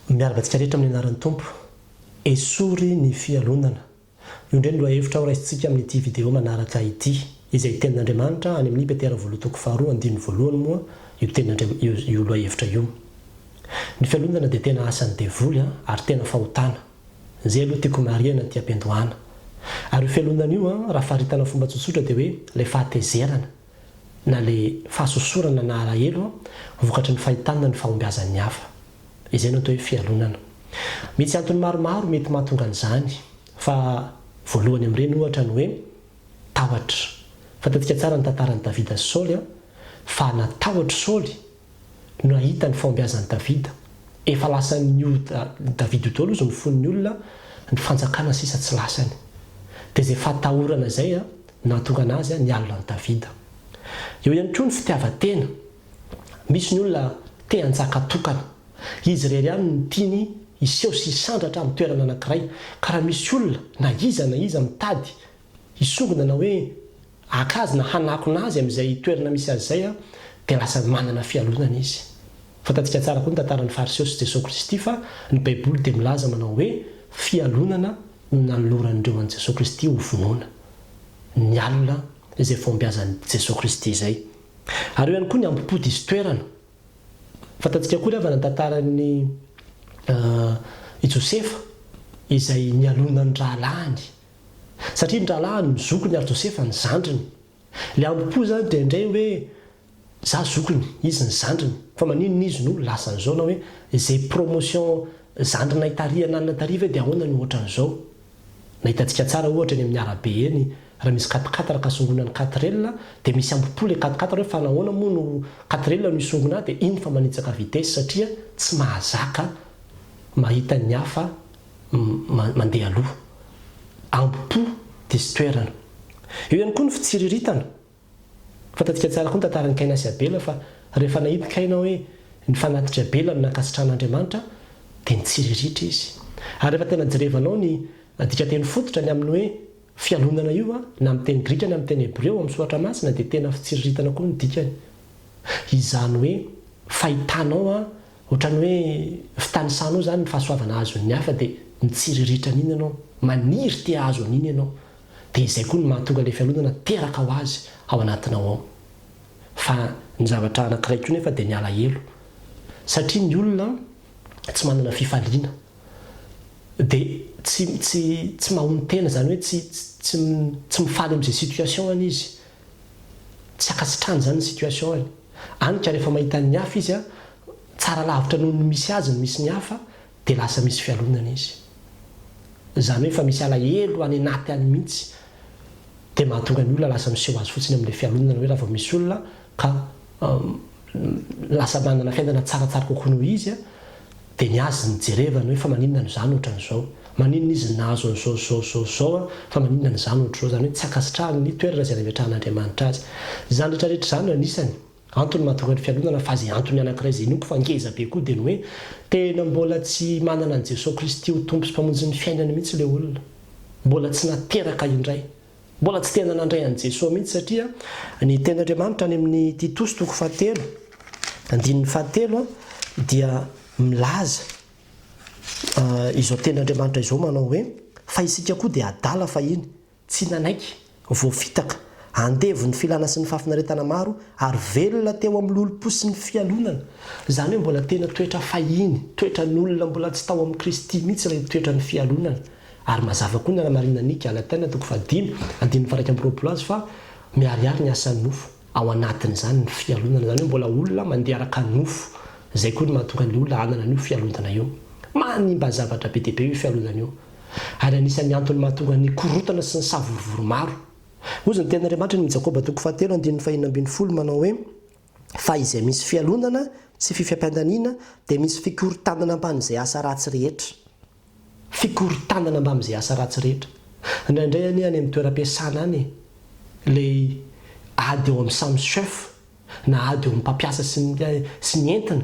Miarahaba antsika rehetra amin'ny anaran'ny Tompo. Esory ny fialonana. Io indray no lohahevitra horaisintsika amin'ity video manaraka ity. Izay Tenin'Andriamanitra any amin'i Petera voalohany toko faharoa andininy voalohany moa io tenindria io io lohahevitra io. Ny fialonana dia tena asan'ny devoly an, ary tena fahotana. Izay aloha tiako marihana aty am-piandohana. Ary io fialonana io an, raha faritana fomba tsotsotra dia hoe ilay fahatezerana, na ilay fahasosorana na alahelo an, vokatry ny fahitana ny fahombiazan'ny hafa. Izay no atao hoe fialonana. Misy antony maromaro mety mahatonga an'izany fa voalohany amin'ireny ohatra ny hoe tahotra. Fantantsika tsara ny tantaran'i Davida sy Saoly fa natahotra i Saoly no nahita ny fahombiazan'i Davida. Efa lasan'ny io Davida io daholo izy no foin'ny olona, ny fanjakana sisa tsy lasany. Dia izay fahatahorana izay no nahatonga anazy nialona an'i Davida. Eo ihany koa ny fitiavan-tena. Misy ny olona te hanjaka tokana. Izy irery ihany no tiany hiseho sy hisandratra amin'ny toerana anankiray. Ka raha misy olona, na iza na iza, mitady hisongona na hoe haka azy na hanakona azy amin'izay toerana misy azy izay, dia lasa manana fialonana izy. Fantatsika tsara koa ny tantaran'ny Fariseo sy Jesoa Kristy fa ny Baiboly dia milaza manao hoe fialonana no nanoloran'ireo an'i Jesoa Kristy hovonoina. Nialona izay fahombiazan'i Jesoa Kristy izay. Ary eo ihany koa ny ambo-po diso toerana. Fantatsika akory havana ny tantaran'i Josefa izay nialona ny rahalahiny. Satria ny rahalahiny no zokiny ary Josefa ny zandriny. Ilay ambo-po izany dia indray hoe za zokiny, izy ny zandriny. Fa maninona izy no lasa an'izao na hoe izay promotion zandrinay tary ananana tary ve dia ahoana no ohatran'izao. Nahitantsika tsara ohatra eny amin'ny arabe eny, raha misy quat-quatre ka songona ny quatrelle dia misy ambo-po ilay quat-quatre hoe fa nahoana moa no quatrelle no isongona ahy dia iny fa manitsaka vitesse satria tsy mahazaka mahita ny hafa mandeha aloha. Ambo-po diso toerana. Eo ihany koa ny fitsiriritana. Fantatsika tsara koa ny tantaran'i Kaina sy Abela fa rehefa nahita Kaina hoe nifanatitr'i Abela amin'ny nankasitrahan'Andriamanitra dia nitsiriritra izy. Ary rehefa tena jerevanao ny dikanteny fototra ny amin'ny hoe fialonana io na amin'ny teny grika na amin'ny teny hebreo amin'ny soratra masina dia tena fitsiriritana koa ny dikany. Izany hoe fahitanao ohatran'ny hoe fitanisanao izany ny fahasoavana azon'ny hafa dia mitsiriritra an'iny ianao, maniry te hahazo an'iny ianao dia izay koa no mahatonga ilay fialonana teraka ho azy ao anatinao ao. Fa ny zavatra anankiray koa nefa dia ny alahelo. Satria ny olona tsy manana fifaliana. Dia tsy tsy tsy mahono tena izany hoe tsy tsy tsy mifaly amin'izay situation-any izy. Tsy ankasitrahany izany ny situation-any. Any ka rehefa mahita ny hafa izy an, tsara lavitra noho ny misy azy ny misy ny hafa, Dia lasa misy fialonana izy. Izany hoe efa misy alahelo any anaty any mihitsy. Dia mahatonga ny olona lasa miseho azy fotsiny amin'ilay fialonana hoe raha vao misy olona ka lasa manana fiainana tsaratsara kokoa noho izy dia ny azy no jerevana hoe fa maninona no izaho no ohatran'izao. Maninona izy no nahazo an'izao sy izao sy izao sy izao fa maninona ny izaho no ohatr'izao. Izany hoe tsy ankasitrahany ny toerana izay nametrahan'Andriamanitra azy. Izany rehetrarehetra izany no anisany. Antony mahatonga ny fialonana fa izay antony anankiray izay inoako fa ngeza be koa dia ny hoe tena mbola tsy manana an'i Jesoa Kristy ho Tompo sy Mpamonjin'ny fiainany mihitsy ilay olona. Mbola tsy nateraka indray. Mbola tsy tena nandray an'i Jesoa mihitsy satria ny tenin'Andriamanitra any amin'ny Titosy toko fahatelo andininy fahatelo dia milaza izao tenin'Andriamanitra izao manao hoe fa isika koa dia adala fahiny Tsy nanaiky, voafitaka, andevon'ny filana sy ny fahafinaretana maro ary velona teo amin'ny lolompo sy ny fialonana. Izany hoe mbola tena toetra fahiny, toetran'olona mbola tsy tao amin'i Kristy mihitsy ilay toetran'ny fialonana. Ary mazava koa ny hanamarinan'i Galatiana toko fahadimy, andininy faha-iraika amby roapolo azy fa miharihary ny asan'ny nofo ao anatin'izany ny fialonana. Izany hoe mbola olona mandeha araka ny nofo. Izay koa no mahatonga ny olona hanana an'io fialonana io. Manimba zavatra be dia be io fialonana io. ary anisan'ny antony mahatonga ny korontana sy ny savorovoro maro. Hoy izany tenin'Andriamanitra ny Jakoba toko fahatelo andininy fahenina ambin'ny folo manao hoe, Fa izay misy fialonana sy fifampiandaniana dia misy fikorontanana mbamin'izay asa ratsy rehetra. Fikorontanana mbamin'izay asa ratsy rehetra. Indraindray anie any amin'ny toeram-piasana any e! Ilay ady eo amin'ny samy chef na ady eo amin'ny mpampiasa sy ny sy ny entiny,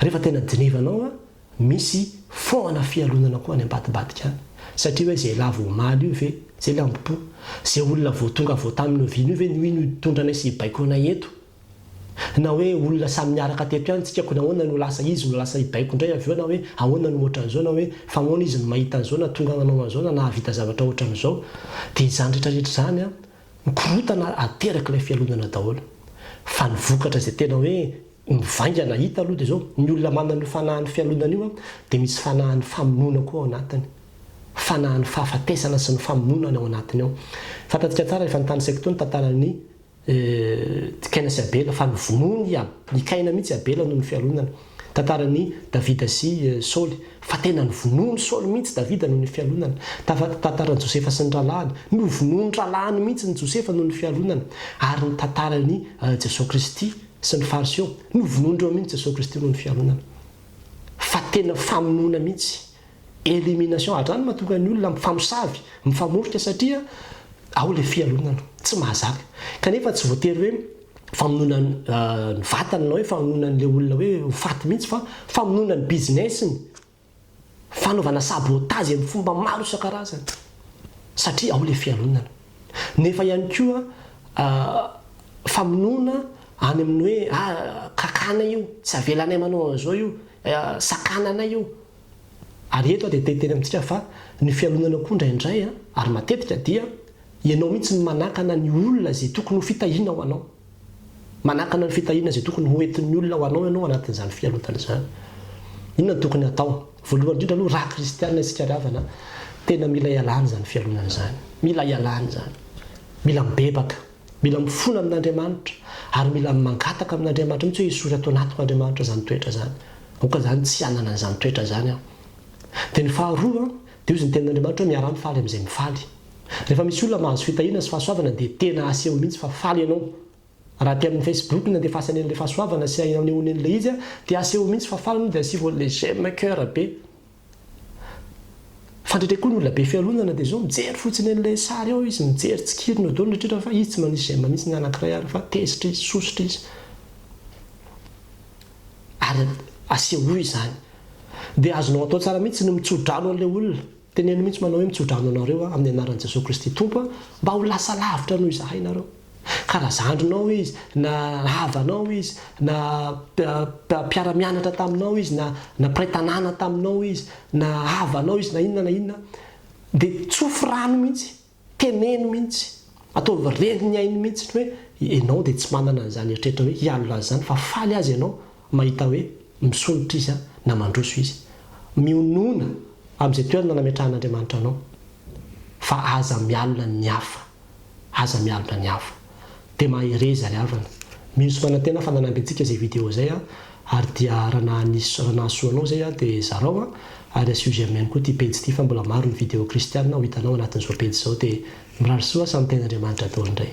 rehefa tena dinevanao an, misy foana fialonana koa any ambadibadika any, satria hoe zay lavo omaly io ve, zay lambom-po, zay olona vao tonga avy ao tamin'ny oviana io ve no iny hitondra anay sy hibaiko anay eto, na hoe olona samy niaraka teto ihany tsika ko nahoana no lasa izy no lasa hibaiko indray avy eo na hoe ahoana no ohatran'izao na hoe famoana izy no mahita an'izao na tonga nanao an'izao na nahavita zavatra ohatran'izao, dia izany retraretra izany an, Mikorontana ary ateraky ilay fialonana daholo. Fa ny vokatra izay tena hoe mivaingana hita aloha dia izao, ny olona manana io fanahin'ny fialonana io dia misy fanahin'ny famonoana koa ao anatiny. Fanahin'ny fahafatesana sy ny famonoana any ao anatiny ao. Fantantsika tsara efa nitanisako teo ny tantaran'i Kaina sy Abela fa novonoiny i Kaina mihitsy i Abela noho ny fialonana. Tantaran'i Davida sy Saoly, fa tena novonoin'i Saoly mihitsy Davida noho ny fialonana. Tantaran'i Josefa sy ny rahalahiny, novonoin'ny rahalahiny mihitsy ny Josefa noho ny fialonana. Ary ny tantaran'i Jesoa Kristy sy ny Fariseo, novonoin'ireo mihitsy Jesoa Kristy noho ny fialonana. Fa tena famonoana mihitsy, elimination, hatrany mahatonga ny olona mifamosavy, mifamorika satria ao ilay fialonana, tsy mahazaka. Kanefa tsy voatery hoe. famonoana ny vatany na hoe famonoana an'ilay olona hoe ho faty mihitsy fa famonoana ny business-ny, fanaovana sabotage amin'ny fomba maro isan-karazany satria ao ilay fialonana. Nefa ihany koa famonoana any amin'ny hoe ah, kakanay io, tsy avelanay manao an'izao io, sakananay io, Ary eto aho dia te hiteny amintsika fa ny fialonana koa indraindray ary matetika dia ianao mihitsy no manakana ny olona izay tokony ho fitahiana ho anao. Manakana ny fitahiana izay tokony ho entin'ny olona ho anao ianao anatin'izany fialonana izany. Inona no tokony hatao? Voalohany indrindra aloha raha kristiana isika ry havana, tena mila ialana izany fialonana izany. Mila ialana izany. Mila mibebaka. Mila mifona amin'Andriamanitra ary mila mangataka amin'Andriamanitra mihitsy hoe esory ato anatiko Andriamanitra izany toetra izany. Aoka izany tsy hanana an'izany toetra izany aho. Dia ny faharoa, dia hozy ny tenin'Andriamanitra hoe miaraha mifaly amin'izay mifaly. Rehefa misy olona mahazo fitahiana sy fahasoavana dia tena aseho mihitsy fa faly ianao. Raha aty amin'ny Facebook na dia efa asany an'ilay fahasoavana sy anehoany an'ilay izy dia aseho mihitsy fa faly ianao dia asivo an'ilay j'aime cœur be. Fantatra koa ny olona be fialonana dia izao mijery fotsiny an'ilay sary ao izy, mijery tsikiriny eo daholo ny rehetra fa izy tsy manisy j'aime mihitsy ny anankiray ary fa tezitra izy, sosotra izy. Ary asehoy izany. Dia azonao atao tsara mihitsy ny mitsodrano an'ilay olona. Teneno mihitsy manao hoe mitsodrano anareo aho amin'ny anaran'i Jesoa Kristy Tompo aho mba ho lasa lavitra noho izahay nareo. Ka na zandrinao izy, na ravanao izy, na mpiara-mianatra taminao izy, na na mpiray tanàna taminao izy, na havanao izy, na inona na inona, dia tsofy rano mihitsy, teneno mihitsy, ataovy reny ny ainy mihitsy ny hoe ianao dia tsy manana an'izany eritreritra hoe hialona an'izany fa faly aza ianao mahita hoe misondrotra izy an, na mandroso izy. Mionona amin'izay toerana nametrahan'Andriamanitra anao fa aza mialona ny hafa. Aza mialoka ny hafa. Dia mahereza ry havana. Mino sy manantena fa nanampy antsika izay video izay an! Ary dia raha nahanisy raha nahasoa anao izay an dia zarao an! Ary asio j'aime ihany koa ity pejy ity fa mbola maro ny video kristiana ho hitanao anatin'izao pejy izao dia mirary soa samy tenin'Andriamanitra daholo indray.